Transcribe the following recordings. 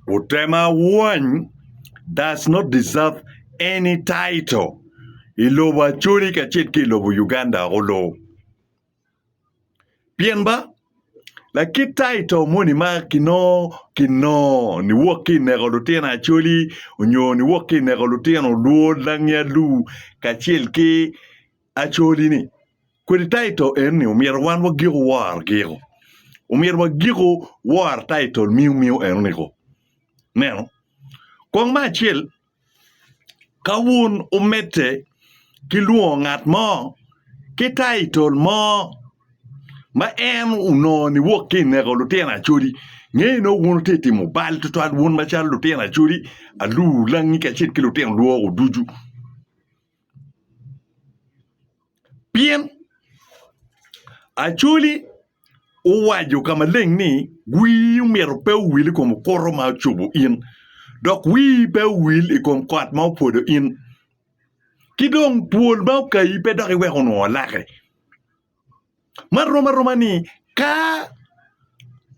Otema wany does not deserve any title i lobo Acholi kacel ki i lobo Uganda olo. Pien ba lakit title moni ma kinongo kinongo niwok ki i neko lutino Acholi nyo niwok ki i neko lutino Luo, Langi, Alur kacel ki Acholi ni, kodi taito en ni omyero wan wa giko wor giko. Omyero wa giko wor taito miyo miyo eno niko. Neno. Kong ma acel, ka wun omedde ki lwongo ngat mo ki taito mo ma en onongo ni wok ki ineko lutino acholi, ngeye nongo wun wutye timo bal twatwal wun macalo lutino acholi, alu, langi kacel ki lutino lwoko ducu. Pien Acholi owaco ka maleng ni, Wii omyero pe owil i kom okuto ma ocubo in, dok wii pe owil i kom kot ma opwodo in, ki dong twol ma okayi pe dok iweko onongo laki. Man rom aroma ni ka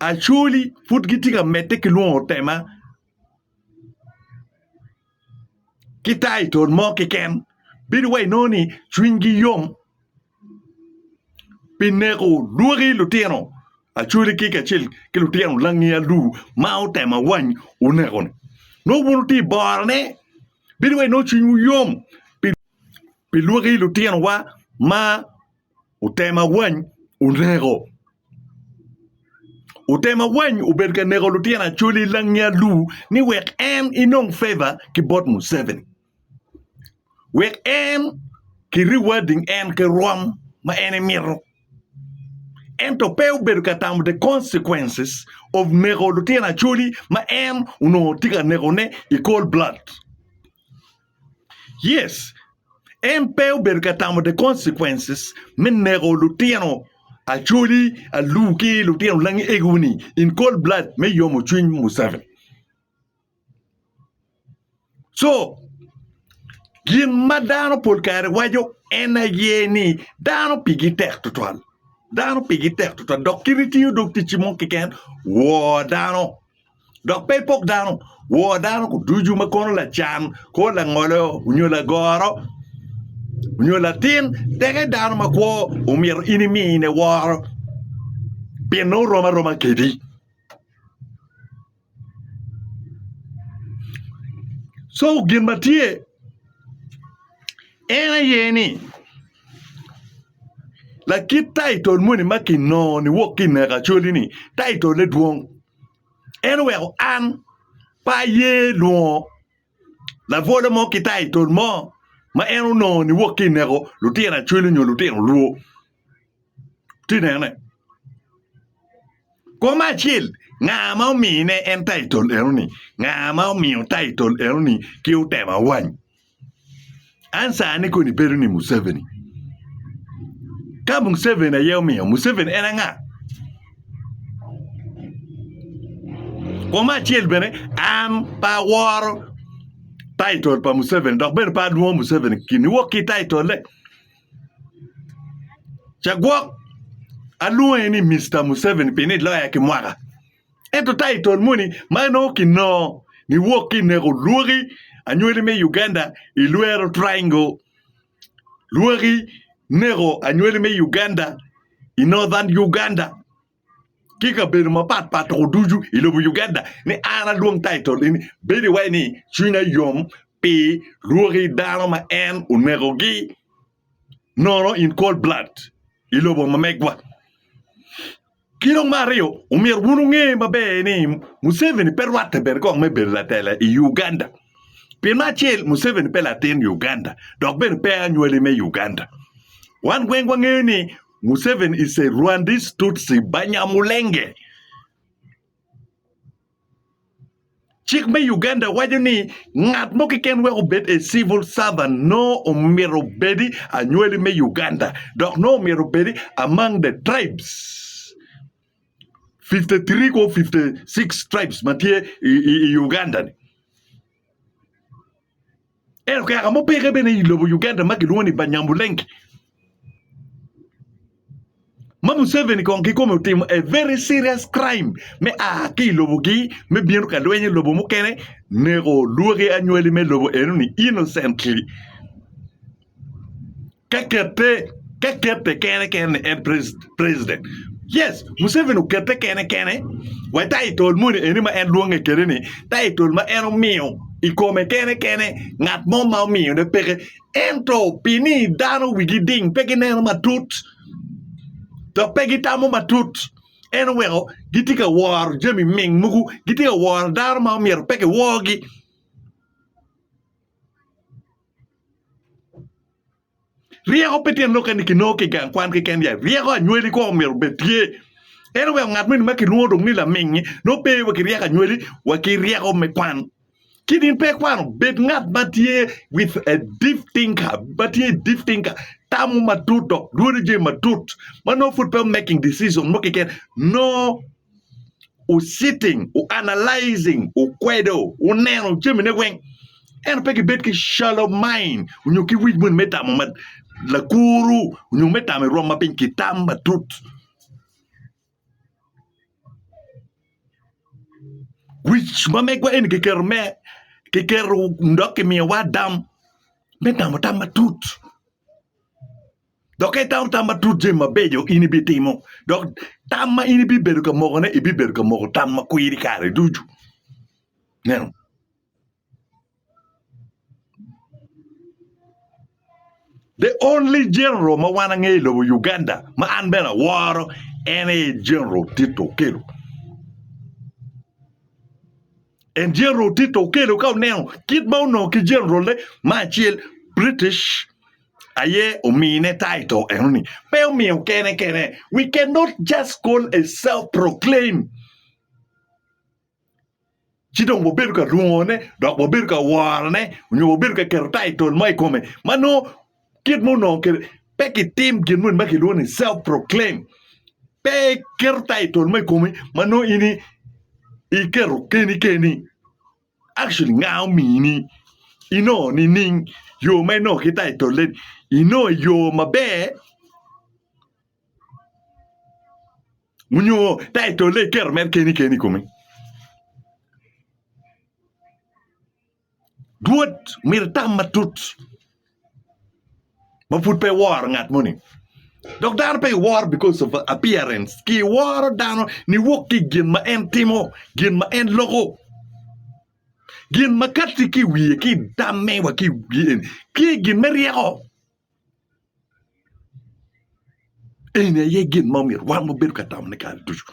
Acholi pud gitye ka medde ki lwongo tema ki taitol mo keken bedo wai inongo ni cwinygi yom pi neko lwaki lutino Acholi ki kacel ki lutino langi alu ma otemo awany oneko-ni. Nongo wun wutye i borone bedo wai inongo cwinywu yom pi Pi lwaki lutinowa ma otema wany oneko. Otema wany obedo ka neko lutino Acholi langi alu ni wek en enong favor ki bot Museveni. Wek en ki rewarding en ki rwom ma en emito. Ento pe obedo ka tamo the consequences of neko lutino Acholi ma en onongo tye ka nekone i cold blood. Yes, en pe obedo ka tamo the consequences me neko lutino Acholi alur ki lutino langi egiwu ni in cold blood me yomo cwiny Museveni. So, gin ma dano pol kare waco en aye ni dano pigi tek tutwal. Dano pigi tek tutwal dok kit itiyo dog ticci mo keken woo dano. Dok pe ipok dano, wor dano ducu ma kono lacan kor langolo onyo lagoro onyo latin teke dano makwo omyero in imine woro pien nongo rom aroma kedi. Co gin ma tye en aye ni lakit taitol moni ma kinongo niwok ki i neka coli ni taitole dwong en oweko an pe aye nongo labwolo mo ki taitol mo ma en onongo ni wok ki ineko lutino acwele nyo lutino lwo, iti nene? Kong me acel nga ma omine en taitol enoni, nga ma omiyo taitol enoni ki otemo awany? An sani koni bedo ni Museveni. Ka Museveni aye omiyo, Museveni en anga? Kuom me acel bene, an pe aworo taitol pa Museveni dok bene pe alwongo Museveni gin niwok ki taitolle. Cagwok alwonge ni Mister Museveni pi ni loya ki mwaka. Ento taitol moni ma inongo kinongo niwok ki ineko lwoki anywali me Uganda ilwero triangle lwoki neko anywali me Uganda i northern Uganda ki kabedo mapat pat toko ducu i lobo Uganda ni an alwong taitol eni bedo iwaci ni cwinya yom pi lwoki dano ma en onekogi nono in cold blood i lobo ma megwa. Ki dong me aryo, omyero wun wunge maber ni Museveni pe rwatte bene kong me bedo latela i Uganda. Pi me acel, Museveni pe latin Uganda dok bene pe anywali me Uganda. Wan weng wangeyo ni Museveni is a Rwandese Tutsi Banyamulenge. Cik me Uganda waco ni ngat mo keken wek obed a civil servant noo omyero obedi anywali me Uganda dok noo omyero obedi among the tribes fifty three kwo fifty six tribes ma tye i Uganda ni. En okeka mubeke bene i lobo Uganda ma kilwongo ni Banyamulenge ma Museveni kong kikome otimo a very serious crime me a ki i lobogi me bino ka lweny i lobo mukene neko lwoki anywali me lobo enoni innocently. Ka kete ka kete kene kene ni en president yes Museveni okete kene kene wa title moni eni ma en lwonge kede ni title ma en omiyo i kome kene kene ngat mo ma omiyo ne peke ento pi ni dano wigi ding pe gineno matut dok pe gitamo matut en oweko gitye ka woro jami ming mogo gitye ka woro dano ma myero pe kiwor gi. Ryeko pe tye nokene kinongo ki gang kwan keken ya ryeko anywali kong omyero obed tye ento wek ngat moni ma kilwongo dong ni lamingngi nongo pe wa ki ryeko anywali wa ki ryeko me kwan kit in pe ikwano bed ngat ma tye with a deep thinker ma tye i deep thinker tamo matut dok dwodo jami matut ma nongo pud pe o making decision mo keken nongo wuciting, wuanalajing, wukwedo, wuneno jamine weng, ento pe gibed ki shallow mind onyo ki wic moni me tamo lakuru onyo me tamo i rwom ma piny kitam matut. Wic ma megwa eni kiketo me kiketo dok kimiyowa adam me tamo tam matut. Dok ka itamo tam matut jami mabeco in ibitimo, dok tam ma in ibibedo ka mokone, ibibedo ka moko tam ma kwiri kare ducu. Neno. The only general ma wan angeyo i lobo Uganda ma an bene aworo en aye General Tito Okello. En General Tito Okello ka oneno kit ma onongo ki generalne ma acel British aye omine taito enoni pe omiyo kene kene we can not just call a self proclaim ci dong wabedo ka rungone dok wabedo ka worone onyo wabedo ka keto taitol mo i kome ma nongo kit ma onongo kede pe kitim gin moni ma kilwongo ni self proclaim pe iketo taitol mo i komi ma nongo in iketo keni keni Actually nga omiyi ni inongo nining yo ma inongo kita i tolle ni inongo i yo maber onyo ta i tolle iketo mere keni keni i kome? Rwot myero itam matut. ma pud pe iworo ngat moni dok dano pe iworo because of appearance ki iworo dano niwok ki i gin ma en timo, gin ma en loko, gin ma katti ki i wiye ki i tamme wa ki i wiye ki i gin me ryeko. Eni aye gin ma omyero wan wabedo ka tamone kare ducu.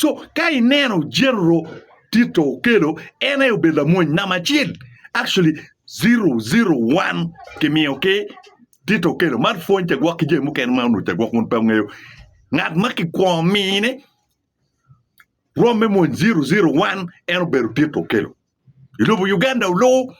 Co ka ineno Jerro Tito Okello en aye obedo lamony namba acel actually zero zero one kimiyo ki Tito Okello mar pwony cagwok ki jami mukene ma onongo cagwok wun pe wungeyo. Ngat ma kikwongo mine romme mony zero zero one en obedo Tito Okello. I lobo Uganda olu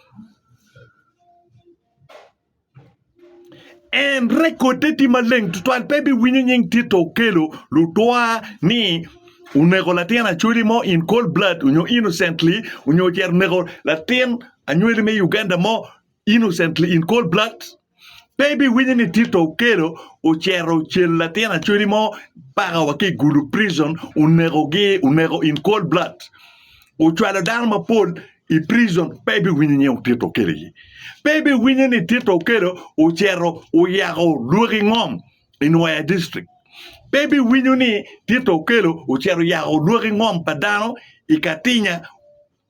en rekode tye maleng tutwal pe biwinyo nying Tito Okello lutwa ni onego latin Acholi mo in cold blood nyo innocently nyo ocito oneko latin anywali me Uganda mo innocently in cold blood pe ibiwinyo ni Tito Okello ocero ocel latin acoli mo mpaka wa ki i Gulu prison onekogi oneko in cold blood ocwalo dano mapol i prison pe ibiwinyo nying Tito Okello iye pe ibiwinyo ni Tito Okello ocero oyako lwoki ngom i Nwoya district pe ibiwinyo ni Tito Okello ocero oyako lwoki ngom pa dano i Katinya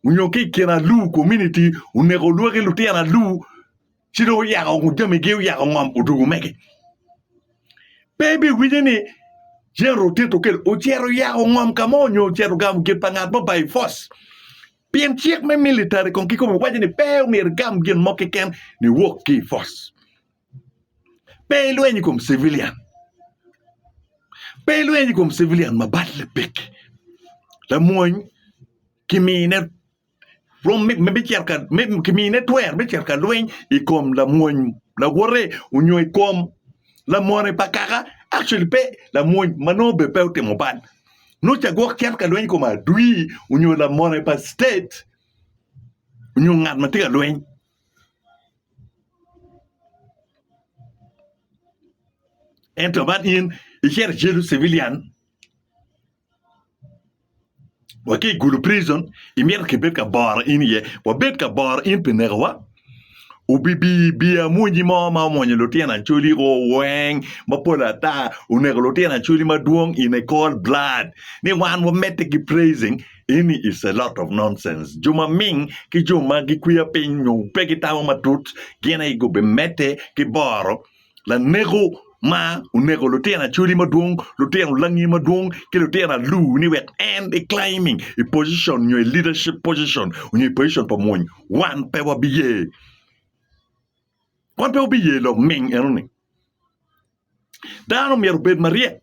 Onyo ki ikin alu community oneko olwoki lutino alu ci dong oyako ngo jami gi oyako ngom odugu mege pe ibi winyo ni general tito kele ocito oyako ngom kamo onyo ocito gamo gin pa ngat mo by force pien cik me military kong ki kome waco ni pe omyero igam gin mo keken ni wok ki i force pe ilweny ikom civilian pe ilweny ikom civilian ma bat lapeki lamwony kimine rwom me me bicito ka me kimine twer me cito ka lweny i kom lamwony lawote onyo i kom lamone pa kaka, actually pe lamwony ma nongo bene pe otimo bal nongo ca gwok cito ka lweny i kom adwir onyo lamone pa state onyo ngat ma tye ka lweny. Ento man in icito icelu civilian wa ki i gulu prison imito kibed ka boro in iye wabed ka boro in pi nekowa obibi bi amunyi mo ma omwonyo lutino acholi o weng mapol ata oneko lutino acholi madwong in a cold blood ni wan wamedde ki praising in is a lot of nonsense jo maming ki jo ma gikwiya piny nyo pe gitamo matut gin aye gubimedde ki boro laneko ma oneko lutino acholi madwong, lutino langi madwong ki lutino alur ni wek en i climbing i position nyo i leadership position nyo i position pa mwony wan pe wabiye. Wan pe wabiye loming enoni. Dano myero obed maryek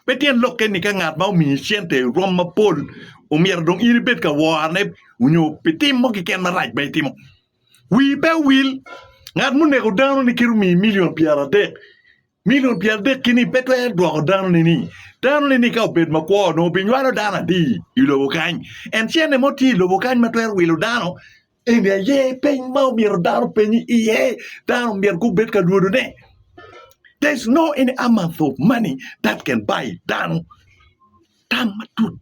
pe tyen lokke ni ka ngat ma omiyi cente rom mapol omyero dong in ibed ka worone nyo pi tim mo keken marac ma itimo. Wii pe owil, ngat muneko dano-ni kit omiyi milion pyeradek, milion pyeradek ki-ni pe twero dwoko dano-ni ni. Dano-ni ni ka obed makwo, onongo obinywalo dano adi i lobo kany? En cente mo tye i lobo kany ma twero wilo dano? Eni aye peny ma omyero dano openy iye, dano omyero gubed ka lwodone. There's no any amount of money that can buy dano tam matut.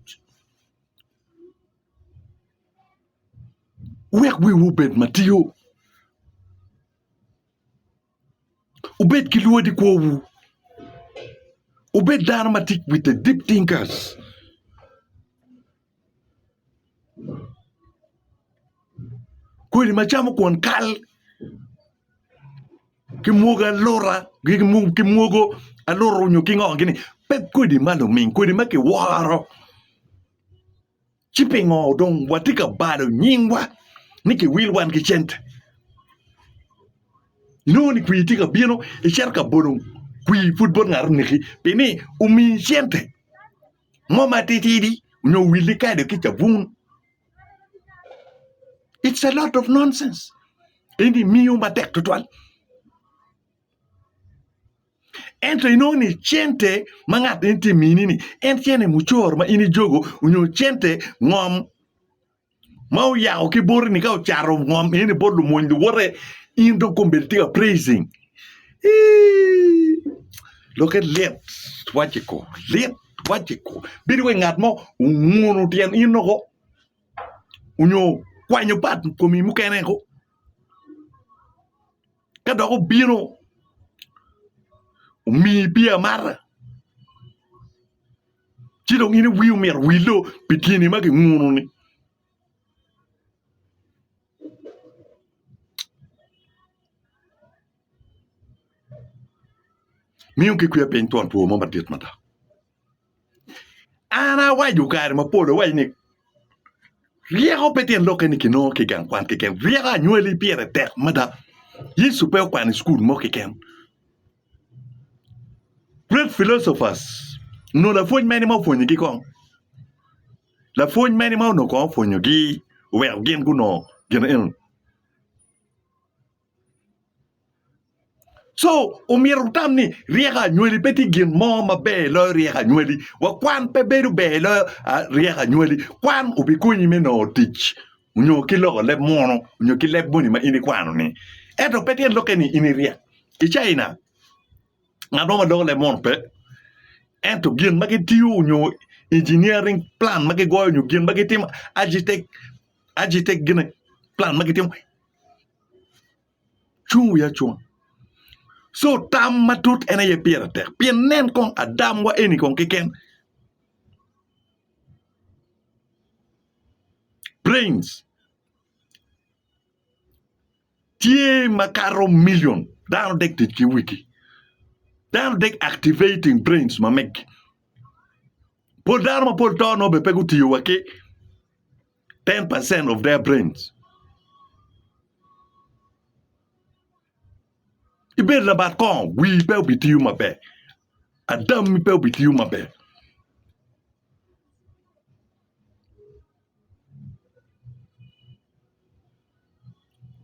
wek wiwu obed matio, wubed ki lwod i kwowu, wubed dano ma tic with a deep thinkers. Kodi ma camo kwon kal ki mwogo alura ki mwogo alura onyo ki ngo gini pe kodi ma luming kodi ma kiworo. Ci pingo dong watye ka balo nyingwa ni kiwil wan ki cente? Inongo ni kwir tye ka bino icito ka bolo kwir pud bot ngat oneki pi ni omiyi cente mo matitidi onyo owilli kado ki cabun. It's a lot of nonsense. Eni miyo matek tutwal. Ento inongo ni cente ma ngat eni tye ka mini ni en cene mucor ma in ijogo nyo cente ngom ma oyako ki boti ni ka ocato ngom eni bot lumony luwote in dong kong bene itye ka praising ii lokke lit wacci kong lit wacci kong bedo wai ngat mo onguno tyen in woko onyo kwanyo part komi mukene woko. Ka dok obino, omiyi pii amata, ci dong in iwii omyero owillo pi gin-ni ma kinguno-ni. Miyo ki kwer piny twon two mo madit mada. An awaco kare mapol awaco ni ryeko pe tyen lok kene kinongo ki i gang kwan keken ryeko anywali pire tek mada Yecu pe okwano i cukul mo keken great philosophers nyo lapwony mene ma opwonyogi kong lapwony mene ma onongo kong opwonyogi oweko gin gunongo gin eno-ni. Co omyero wutam ni ryeko anywali pe tye gin mo maber loyo ryeko anywali wa kwan pe bedo ber loyo ryeko anywali kwan obikonyi me nongo tic nyo ki loko leb munu nyo ki leb moni ma in ikwano ni ento pe tyen lokke ni in iryek i Caina ngat mo ma loko leb munu pe ento gin ma gitiyo nyo injiniaring plan ma gigoyo nyo gin ma gitimo acitek gine plan ma gitimo cung wi acunga so tam matut en aye pire tek pien nen kong Adam wa eni kong keken brains tye makato million dano dek tic ki wigi dano dek activating brains ma megi pol dano mapol to nongo bene pe gutiyo wa ki Ten percent of their brains. Ibed labat kong, wii pe obitiyo maber. Adammi pe obitiyo maber.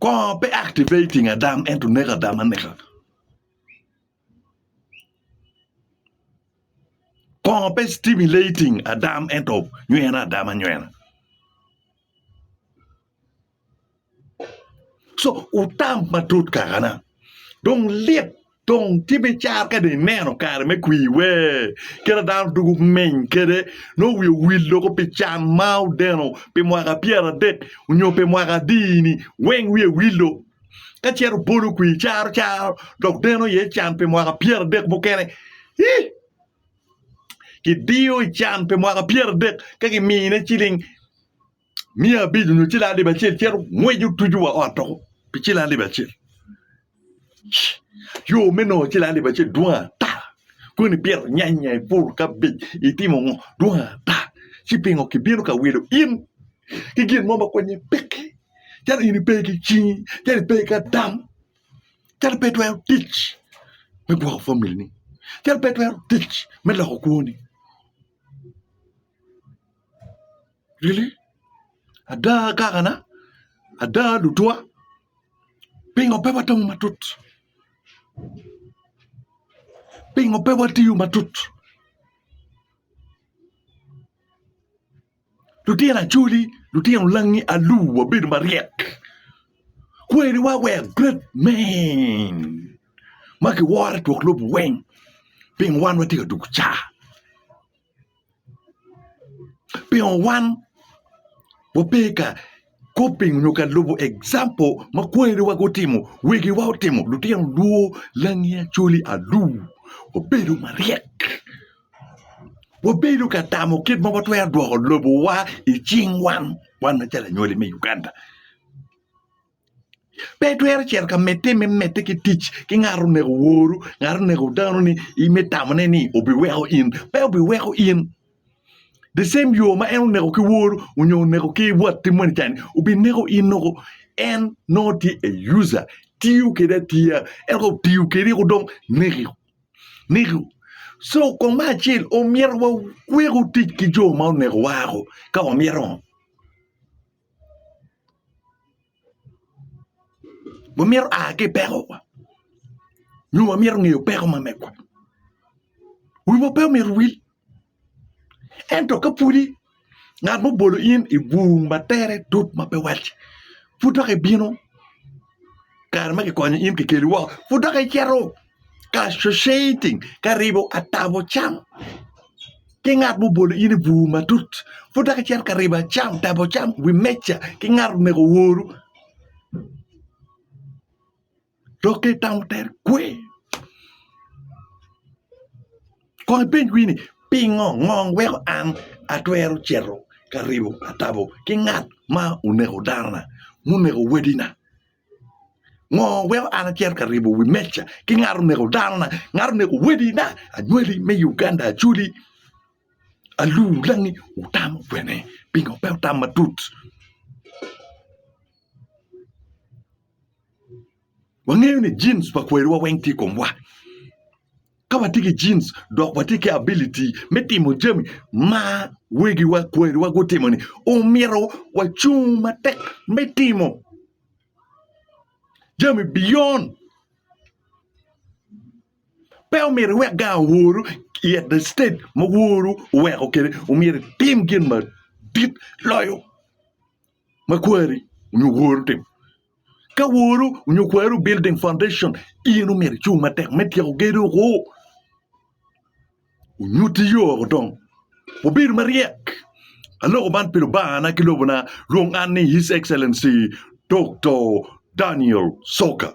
Kong pe activating Adam ento neko Adam aneka. Kongo pe stimulating adam ento nywene adama nywena co wutam matut kakana dong lit dong tye me car ka dong ineno kare me kwir wee kit ma dano dwogo meny kwede nongo wiye owil doko pi can ma odeno pi mwaka pyera dek nyo pi mwaka adi-ni weng wiye wilo. ka cito bolo kwi caro caro dok deno iye can pi mwaka pyero adek mukene ii kidiyo i can pi mwaka pyero adek ka kimine ciling mia abic onyo ciling alip acel cito ngweco tucu wa ot doko pi ciling alip acel yo me nongo ciling alip acel dwong ata koni pito nyanya ipuro kabej itimo ngo dwong ata ci pingo kibino ka wilo in ki gin mo ma konye peke calo in ipe ki cingi calo ipe ki adam calo ipe itwero tic me gwoko famili ni calo ipe itwero tic me loko kwoni really ada agakana ada lutwa pingo pe watamo matut pingo pe watiyo matut Lutino Acholi, lutino Langi Alu wabedo maryek. Kweriwa wek great men ma kiworo i twok lobo weng pingo wan watye ka dwogo ca? Pingo wan wape ka Kop piny onyo ka lubo example ma kweri wa gutimo, wegi wa otimo, lutino luo, langi acholi alur wabedo maryek, wabedo ka tamo kit ma watwero dwoko lobo wa i cing wan, wan ma calo anywali me Uganda. Pe itwero cito ka mete me mete ki tic ki ngat oneko woru, ngat oneko dano ni in me tamone ni obi weko in, pe obi weko in. the same yo ma en oneko ki wor onyo oneko ki wat tim moni cani obineko in oko en nongo tye a user tiyo kede atiya ento ka otiyo kedi eko dong neki neki so kong me acel omyero waweku tic ki jo ma oneko wa ako ka wamyero wamito a ki i pekowa nyo wamito ngeyo peko ma megwa wiwa pe omyero owil ento ka pwodi ngat ma obolo in i bur ma tere tut ma pe wacci pud dok ibino kare ma kikonyo in kikeli woko pud dok icito. associating ka ribo atabo cam ki ngat ma obolo in i bur matut pud dok icito ka ribo cam tabo cam wi meja ki ngat omego oru dok ka itamo tere kwe kong ipenj wii ni pingo ngo weko an atwero cito ka ribo atabo ki ngat ma oneko dana munego wadina. Ngo weko an acito ka ribo wi meca ki ngat oneko danona, ngat oneko wadina, anywali me Uganda Acholi, alur langi wutamo kwene pingo pe wutam matut? Wangeyo ni genes pa kwerewa weng tye i komwa Ka watye ki genes dok watye ki ability me timo jami ma wegiwa, kwariwa gutimo-ni, omyero wacung matek me timo jami beyond. Pe omyero iwek gang oworu i at the state ma woru oweko kwede, omyero itim gin madit loyo. ma kwari nyo woru timo. Ka woru nyo kwari building foundation in omyero icung matek me tyeko gedo oko. Onyuti yo oko dong. Wubedo maryek. Aloko man pi Lubangana ki lobona lwong an ni His Excellency Doktor Daniel Soka.